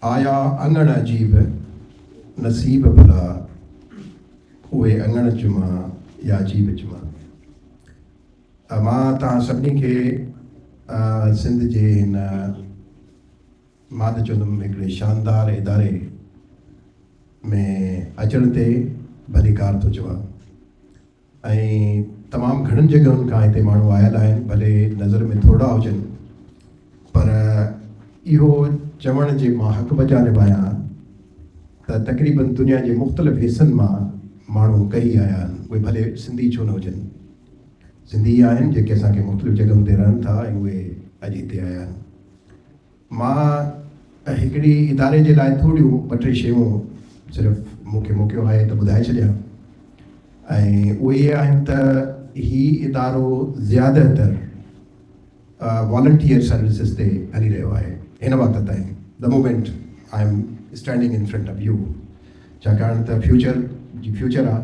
آيا اڱڻ عجيب نصيب ڀلا، اهي اڱڻ چمان يا عجيب چمان. مان توهان سڀني کي سنڌ جي هن ماند چوندم هڪڙي شاندار اداري ۾ اچڻ تي ڀليڪار ٿو چوان. ۽ تمام گهڻن جڳهن کان هتي ماڻهو آيل آهن ڀلي نظر ۾ ٿورڙا هجن پر اهو چوڻ جي مان حق بجانب آهيان ته تقريبن دنيا جي مختلف حصن مان ماڻهو ڪهي آيا آهن اهي ڀلي سنڌي ڇو نه هجن سنڌي ئي آهن جيڪي اسان کي مختلف جڳهن تي رهن ٿا ۽ اهي اڄ هتي آيا آهن. مان هڪڙي اداري جي لاء ٿوريون ٻه ٽي شيون صرف مون کي موقعو آهي ته ٻڌائي ڇڏيان ۽ اهي اهي آهن ته هي ادارو زياده تر والنٽيئر سروسز تي هلي رهيو آهي هن وقت تائين the moment I am standing in front of you ڇاڪاڻ ته فيوچر جي فيوچر آهي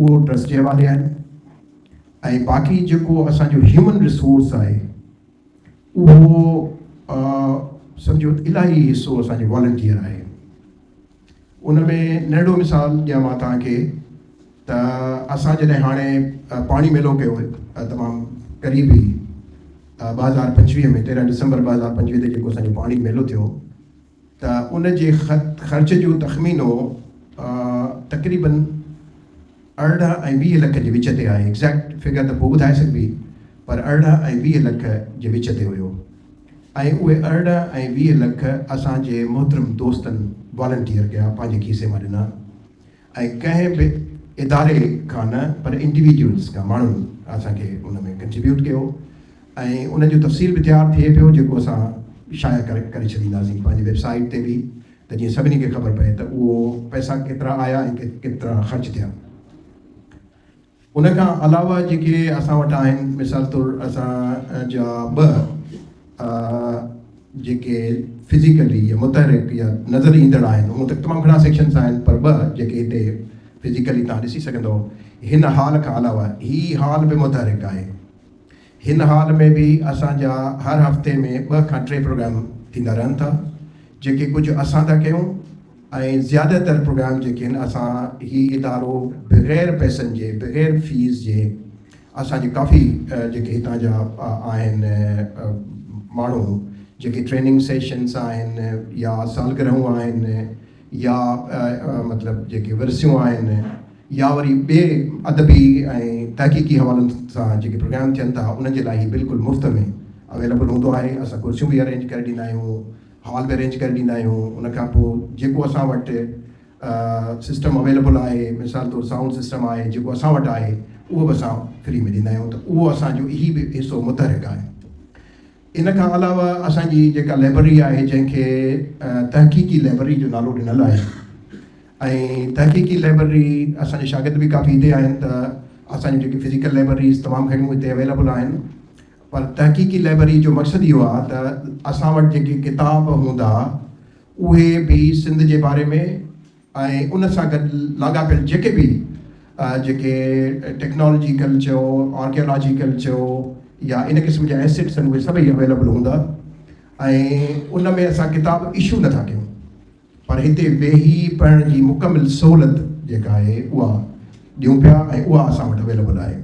اهو ٽرسٽ جي حوالي آهن ۽ باقي جيڪو اسان جو هيومن ريسورس آهي اهو سمجهو الاهي حصو اسان جو والنٽيئر آهي ان ۾ ننڍو مثال ڏيان مان توهان کي ته اسان جڏهن هاڻي پاڻي ميلو ڪيو تمام قريب ئي ٻه هزار پنجويهه ۾ تيرهن ڊسمبر ٻه هزار پنجويهه تي جيڪو اسان جو پاڻي ميلو ٿيو ته ان جي خرچ جو تخمينو تقريبن ارڙهن ۽ ويهه لک جي وچ تي آهي، ايگزيڪٽ فگر ته پوء ٻڌائي سگهبي پر ارڙهن ۽ ويهه لک جي وچ تي هيو ۽ اهي ارڙهن ۽ ويهه لک اسان جي محترم دوستن والنٽيئر ڪيا، پنهنجي کيسي مان ڏنا. ۽ ڪنهن به اداري کان نه پر انڊيويڊيولز کان ماڻهن اسان کي ان ۾ ڪنٽريبيوٽ ڪيو ۽ ان جو تفصيل به تيار ٿئي پيو جيڪو اسان شايع ڪري ڇڏينداسين پنهنجي ويب سائيٽ تي به ته جيئن سڀني کي خبر پئي ته اهو پئسا ڪيترا آيا ۽ ڪيترا خرچ ٿيا. ان کان علاوه جيڪي اسان وٽ آهن مثال طور اسان جا ٻه جيڪي فزيڪلي يا متحرڪ يا نظر ايندڙ آهن هو ته تمام گهڻا سيڪشنس آهن پر ٻه جيڪي هتي فزيڪلي تان ڏسي سگهندو هن هال کان علاوه هي هال به متحرڪ آهي هن حال ۾ به اسان جا هر هفتي ۾ ٻه کان ٽي پروگرام ٿيندا رهن ٿا، جيڪي ڪجهه اسان ٿا ڪيون ۽ زياده تر پروگرام جيڪي آهن اسان هي ادارو بغير پئسن جي بغير فيس جي اسان جي ڪافي جيڪي هتان جا آهن ماڻهو جيڪي ٽريننگ سيشنس آهن يا سالگرهون آهن يا مطلب جيڪي ورسيون آهن يا وري ٻئي ادبي ۽ تحقيقي حوالن سان جيڪي پروگرام ٿين ٿا انهن جي لاء هي بلڪل مفت ۾ اويليبل هوندو آهي اسان ڪرسيون به ارينج ڪري ڏيندا آهيون هال به ارينج ڪري ڏيندا آهيون ان کان پوء جيڪو اسان وٽ سسٽم اويليبل آهي مثال طور سائونڊ سسٽم آهي جيڪو اسان وٽ آهي اهو به اسان فري ۾ ڏيندا آهيون ته اهو اسان جو هي به حصو متحرڪ آهي ان کان علاوه اسان جي جيڪا لئبرري آهي جنهن کي تحقيقي لئبرري جو نالو ڏنل آهي ۽ تحقيقي لئبرري اسان جي شاگرد به ڪافي هتي آهن ته اسان جون جيڪي فزيڪل لئبرريز تمام گهڻيون هتي اويليبل آهن پر تحقيقي لئبرري جو مقصد اهو آهي ته اسان وٽ جيڪي ڪتاب هوندا اهي به سنڌ جي باري ۾ ۽ ان سان گڏ لاڳاپيل جيڪي به جيڪي ٽيڪنالاجيڪل چئو، آرڪيالاجيڪل چئو يا ان قسم جا ايسيٽس آهن اهي سڀئي اويليبل هوندا ۽ ان ۾ اسان ڪتاب اشو نه ٿا ڪيون پر هتي ويهي پڙهڻ جي مڪمل سهولت جيڪا آهي اها ڏيون پيا ۽ اها اسان وٽ اويليبل آهي.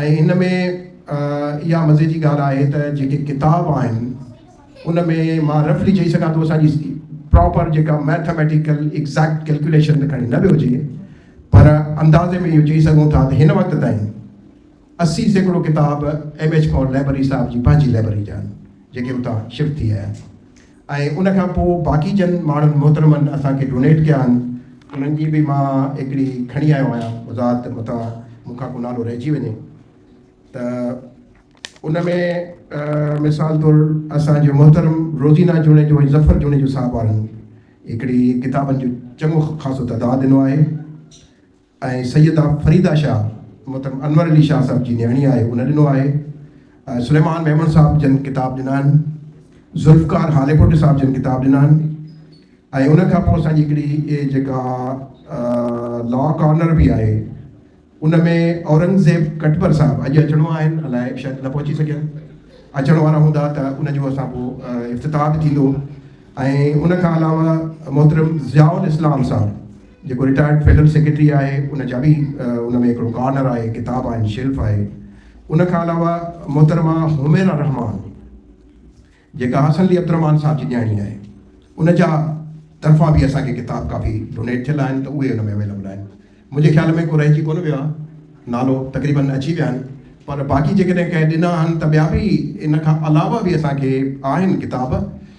۽ ان ۾ اها مزي جي ڳالهه آهي ته جيڪي ڪتاب آهن ان ۾ مان رفلي چئي سگهان ٿو اسان جي پراپر جيڪا ميٿميٽيڪل ايگزيڪٽ ڪيلڪيوليشن ته کڻي نه به هجي پر اندازي ۾ اهو چئي سگهون ٿا ته هن وقت تائين اسي سيڪڙو ڪتاب ايم ايڇ کان لائبرري صاحب جي پنهنجي لائبرري جا آهن جيڪي اتان شفٽ ٿي آيا ۽ ان کان پوء باقي جن ماڻهن محترمن اسان کي ڊونيٽ ڪيا آهن انهن جي به مان هڪڙي کڻي آيو آهيان وضاحت متان مون کان ڪو نالو رهجي وڃي ته ان ۾ مثال طور اسان جو محترم روزينا جوڻيجو ۽ ظفر جوڻيجو صاحب وارن هڪڙي ڪتابن جو چڱو خاصو تعداد ڏنو آهي ۽ سيده فريده شاهه محترم انور علي شاهه صاحب جي نياڻي آهي ان ڏنو آهي ۽ سليمان ميمڻ صاحب جن ڪتاب ڏنا آهن ذوالفقار هاليپوٽي صاحب جن ڪتاب ڏنا آهن ۽ ان کان پوء اسان جي هڪڙي اهي جيڪا لا ڪارنر به آهي ان ۾ اورنگزيب ڪٽبر صاحب اڄ اچڻو آهن الاء شايد نه پهچي سگهيا اچڻ وارا هوندا ته ان جو اسان پوء افتتاح به ٿيندو ۽ ان کان علاوه محترم ضياء الاسلام صاحب جيڪو رٽائرڊ فلم سيڪريٽري آهي ان جا به ان ۾ هڪڙو ڪارنر آهي، ڪتاب آهن، شيلف آهي. ان کان علاوه محترمه حميرا رحمان جيڪا حسن علي عبدالرحمان صاحب جي نياڻي آهي ان جا طرفان به اسان کي ڪتاب ڪافي ڊونيٽ ٿيل آهن ته اهي ان ۾ اويليبل آهن. منهنجي خيال ۾ ڪو رهجي ڪونه ويو آهي. نالو تقريبن اچي ويا آهن پر باقي جيڪڏهن ڪنهن ڏنا آهن ته ٻيا به ان کان علاوه به اسان کي آهن ڪتاب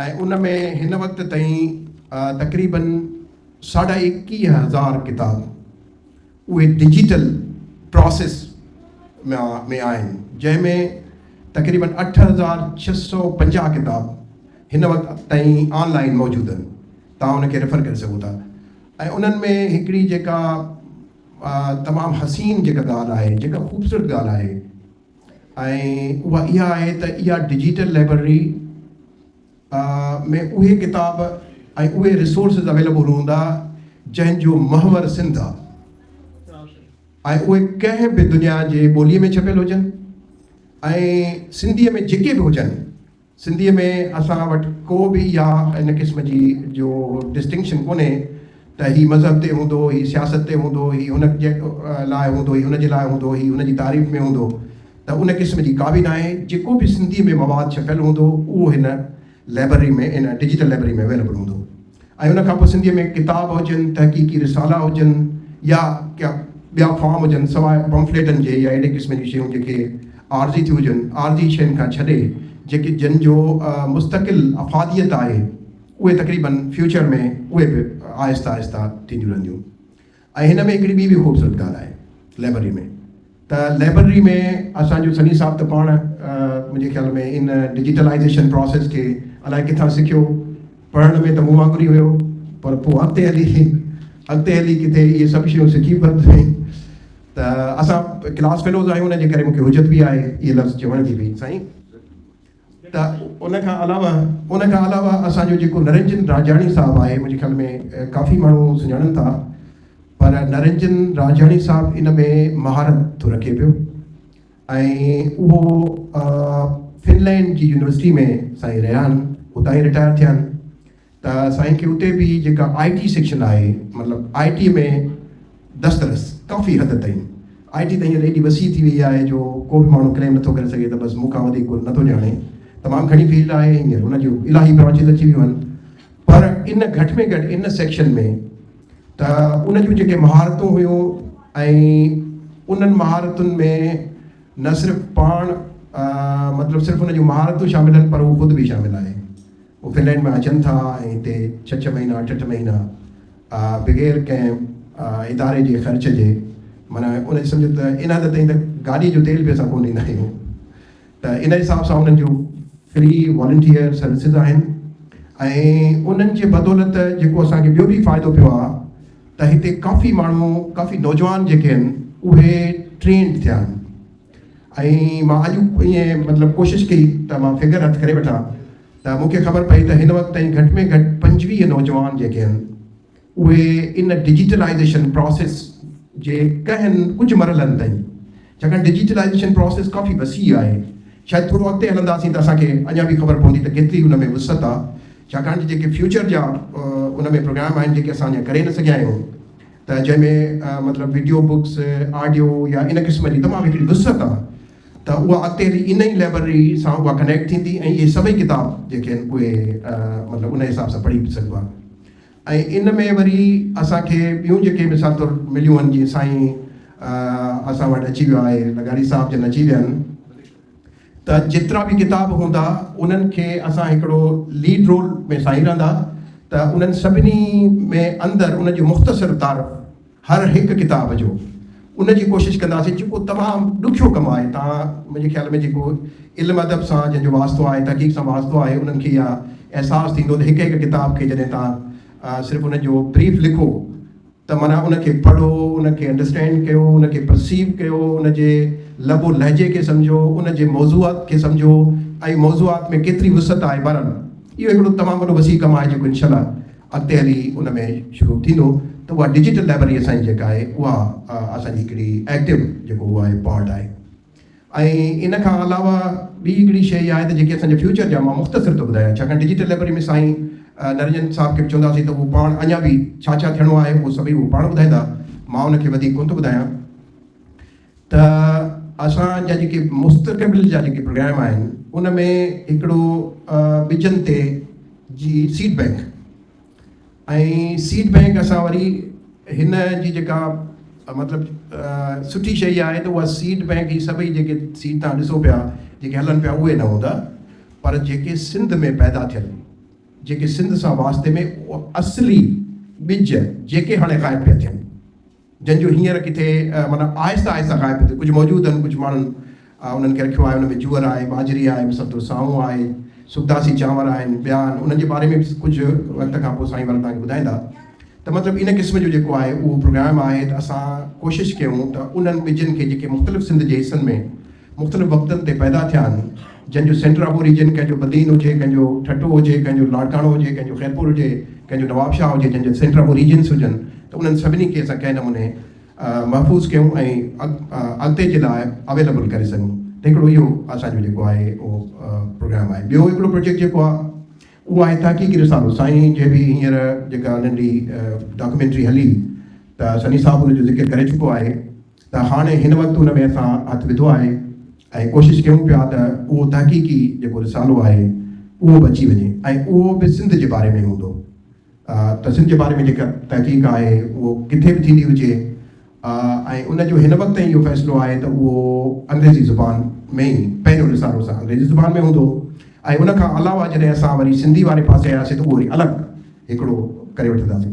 ۽ ان ۾ هن وقت تائين تقريبن ساڍا ايڪيهه هزار ڪتاب اهي ڊجيٽل پراسيس ۾ آهن جنهن ۾ تقريبن اٺ هزار ڇهه سؤ پنجاهه ڪتاب هن وقت تائين آن لائين موجود آهن توهان ان کي ريفر ڪري سگهو ٿا ۽ انهن ۾ هڪڙي جيڪا تمام حسين جيڪا ڳالهه آهي جيڪا خوبصورت ڳالهه آهي ۽ اها اها آهي ته اها ڊجيٽل لئبرري ۾ اهي ڪتاب ۽ اهي رسورسز اويليبل هوندا جنهن جو محور سنڌ آهي ۽ اهي ڪنهن به دنيا جي ٻوليء ۾ ڇپيل هجن ۽ سنڌيء ۾ جيڪي به هجن سنڌيء ۾ اسان وٽ ڪو به اها ان قسم جي جو ڊسٽنڪشن ڪونهي ته هي مذهب تي هوندو، هي سياست تي هوندو، هي هن جي لاء هوندو، هي هن جي لاء هوندو، هي هن جي تعريف ۾ هوندو ته ان قسم جي ڪا به ناهي، جيڪو به سنڌيء ۾ مواد ڇپيل هوندو اهو هن لئبرري ۾ ان ڊجيٽل لئبرري ۾ اويليبل هوندو. ۽ ان کان پوء سنڌيء ۾ ڪتاب هجن، تحقيقي رسالا هجن يا ڪا ٻيا فارم هجن، سواء پمفليٽن جي يا اهڙي قسم جون شيون جيڪي عارضي ٿيون هجن، عارضي شين کان ڇڏي جيڪي جن جو مستقل افاديت آهي، اهي تقريباً فيوچر ۾ اهي به آهسته آهسته ٿينديون رهنديون. ۽ هن ۾ هڪڙي ٻي به خوبصورت ڳالهه آهي لئبرري ۾ ته لئبرري ۾ اسان جو سني صاحب ته پاڻ منهنجي خيال ۾ ان ڊجيٽلائيزيشن پراسيس کي الائي ڪٿان سکيو پڙهڻ ۾ ته مون وانگر ئي هيو پر پوء اڳتي هلي اڳتي هلي ڪٿي اهي سڀ شيون سکي ورتيائين ته اسان ڪلاس فيلوز آهيون ان جي ڪري مون کي حجت به آهي اهي لفظ چوڻ جي به سائين ته ان کان علاوه ان کان علاوه اسان جو جيڪو نرنجن راجاڻي صاحب آهي منهنجي خيال ۾ ڪافي ماڻهو سڃاڻن ٿا پر نرنجن راجاڻي صاحب ان ۾ مهارت ٿو رکي پيو ۽ اهو فنلينڊ جي يونيورسٽي ۾ سائين رهيا آهن اتان ئي رٽائر ٿيا آهن ته سائين کي اتي به جيڪا آئي ٽي سيڪشن آهي مطلب آئي ٽي ۾ دسترس ڪافي حد تائين آئي ٽي ته هينئر ايڏي وسيع ٿي وئي آهي جو ڪو به ماڻهو ڪليم نٿو ڪري سگهي ته بس مون کان وڌيڪ ڪو نٿو ڄاڻي تمام گهڻي فيلڊ آهي هينئر ان جون الاهي برانچز اچي ويون آهن پر ان گهٽ ۾ گهٽ ان سيڪشن ۾ ته ان جون جيڪي مهارتون هيون ۽ انهن مهارتن ۾ نه صرف پاڻ مطلب صرف ان جون مهارتون شامل آهن پر هو خود به شامل آهي هو فنلينڊ مان اچن ٿا ۽ هتي ڇهه ڇهه مهينا اٺ اٺ مهينا بغير ڪنهن اداري جي خرچ جي معنيٰ ان جي سمجهه ته ان حد تائين ته گاڏي جو تيل به اسان ڪونه ڏيندا آهيون ته ان حساب سان انهن جون فري والنٽيئر سروسز آهن ۽ انهن جي بدولت جيڪو اسانکي ٻيو به فائدو پيو آهي ته هتي ڪافي ماڻهو ڪافي نوجوان جيڪي آهن اهي ٽرينڊ ٿيا آهن ۽ مان اڄ ائين مطلب ڪوشش ڪئي ته مان فگر هٿ ڪري وٺان ته مون کي خبر پئي ته هن وقت تائين گهٽ ۾ گهٽ پنجويهه نوجوان جيڪي آهن اهي ان ڊجيٽلائيزيشن پراسيس جي ڪنهن ڪجهه مرحلن تائين ڇاڪاڻ ڊجيٽلائيزيشن پراسيس ڪافي وسيع آهي شايد ٿورو اڳتي هلنداسين ته اسان کي اڃا به خبر پوندي ته ڪيتري ان ۾ وسعت آهي ڇاڪاڻ ته جيڪي فيوچر جا ان ۾ پروگرام آهن جيڪي اسان اڃا ڪري نه سگهيا آهيون ته جنهن ۾ مطلب وڊيو بڪس آڊيو يا ان قسم جي تمام هڪڙي وسعت آهي ته اها اڳتي هلي ان ئي لائبرري سان اها ڪنيڪٽ ٿيندي ۽ اهي سڀئي ڪتاب جيڪي آهن اهي مطلب ان حساب سان پڙهي به سگهبا ۽ ان ۾ وري اسانکي ٻيون جيڪي مثال طور مليون آهن جيئن سائين اسان وٽ اچي ويو آهي لغاري صاحب جن اچي ويا آهن ته جيترا به ڪتاب هوندا انهن کي اسان هڪڙو ليڊ رول ۾ ساهيرندا ته انهن سڀني ۾ اندر ان جو مختصر تعارف هر هڪ ڪتاب جو ان جي ڪوشش ڪنداسين جيڪو تمام ڏکيو ڪم آهي تان منهنجي خيال ۾ جيڪو علم ادب سان جنهن جو واسطو آهي تحقيق سان واسطو آهي انهن کي اها احساس ٿيندو ته هڪ هڪ ڪتاب کي جڏهن تان صرف ان جو بريف لکو ته معنيٰ ان کي پڙهو، ان کي انڊرسٽينڊ ڪيو، ان کي پرسيو ڪيو، ان جي لب و لهجي کي سمجهو، ان جي موضوعات کي سمجهو ۽ موضوعات ۾ ڪيتري وسعت آهي بهرحال اهو هڪڙو تمام وڏو وسيع ڪم آهي جيڪو انشاء الله اڳتي هلي ان ۾ شروع ٿيندو ته اها ڊجيٽل لائبرري اسان جي جيڪا آهي اها اسان جي هڪڙي ايڪٽو جيڪو اهو آهي پارٽ آهي. ۽ ان کان علاوه ٻي هڪڙي شيء اها آهي ته جيڪي اسان جي فيوچر جا مان مختصر ٿو ٻڌايان ڇاڪاڻ ڊجيٽل لئبرري ۾ سائين نرنجن صاحب کي به چونداسين ته هو پاڻ اڃا به ڇا ڇا ٿيڻو آهي اهو سڀئي هو پاڻ ٻڌائيندا مان ان کي وڌيڪ ڪونه ٿو ٻڌايان ته اسان جا جيڪي مستقبل جا جيڪي پروگرام آهن ان ۾ هڪڙو ٻجن تي جي سيڊ بئنڪ ۽ سيڊ بئنڪ اسان وري هن جي جيڪا مطلب سٺي شيء آهي ته اها سيڊ بئنڪ هي سڀئي جيڪي سيڊ تان ڏسو پيا جيڪي هلن پيا اهي نه هوندا پر جيڪي سنڌ ۾ پيدا ٿيل جيڪي سنڌ سان واسطي ۾ اصلي ٻج جيڪي هاڻي غائب پيا ٿين. جن جو هينئر ڪٿي معنيٰ آهستي آهستي غائب ٿيندو ڪجهه موجود آهن ڪجهه ماڻهن انهن کي رکيو آهي انهن ۾ جوئر آهي ٻاجهري آهي مثال طور سانو آهي سبداسي چانور آهن ٻيا آهن انهن جي باري ۾ به ڪجهه وقت کان پوء سائين ورن تهانکي ٻڌائيندا ته مطلب ان قسم جو جيڪو آهي اهو پروگرام آهي ته اسان ڪوشش ڪيون ته انهن ٻجن کي جيڪي مختلف سنڌ جي حصن ۾ مختلف وقتن تي پيدا ٿيا آهن، جن جو سينٽر آف اوريجن ڪنهن جو بدين هجي، ڪنهن جو ٺٽو هجي، ڪنهن جو لاڙڪاڻو هجي، ڪنهن جو خيرپور هجي، ڪنهن جو نوابشاهه هجي، جن جا سينٽر آف اوريجنس هجن ته انهن سڀني کي اسان ڪنهن نموني محفوظ ڪيون ۽ اڳتي جي لاء اويليبل ڪري سگهون ته هڪڙو اهو اسان جو جيڪو آهي اهو پروگرام آهي. ٻيو هڪڙو پروجيڪٽ جيڪو آهي اهو آهي تحقيقي رسالو سائين جي به هينئر جيڪا انهن جي ڊاڪيومينٽري هلي ته سني صاحب ان جو ذڪر ڪري چڪو آهي. ته هاڻي هن وقت ان ۾ اسان هٿ وڌو آهي ۽ ڪوشش ڪيون پيا ته اهو تحقيقي جيڪو رسالو آهي اهو به اچي وڃي ۽ اهو به سنڌ جي باري ۾ هوندو ته سنڌ جي باري ۾ جيڪا تحقيق آهي اهو ڪٿي به ٿيندي هجي ۽ ان جو هن وقت تائين اهو فيصلو آهي ته اهو انگريزي زبان ۾ ئي پهريون رسالو اسان انگريزي زبان ۾ هوندو ۽ ان کان علاوه جڏهن اسان وري سنڌي واري پاسي آياسين ته اهو وري الڳ هڪڙو ڪري وٺنداسين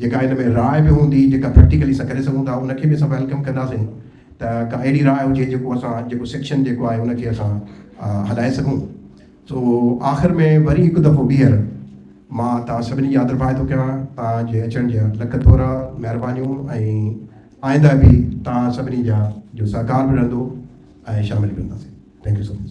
جيڪا ان ۾ راء به هوندي جيڪا پريڪٽيڪلي اسان ڪري سگهون ٿا ان کي به اسان ويلڪم ڪنداسين ته ڪا اهڙي راء هجي جيڪو اسان جيڪو سيڪشن جيڪو آهي ان کي اسان هلائي سگهون سو آخر ۾ وري هڪ دفعو ٻيهر مان توهان سڀني جي آدرڀائي ٿو ڪيان توهان جي اچڻ جا لک ٿورا مهربانيون ۽ آئنده به توهان سڀني جا جو سهڪار به رهندو ۽ شامل به رهنداسين ٿينڪ يو سو مچ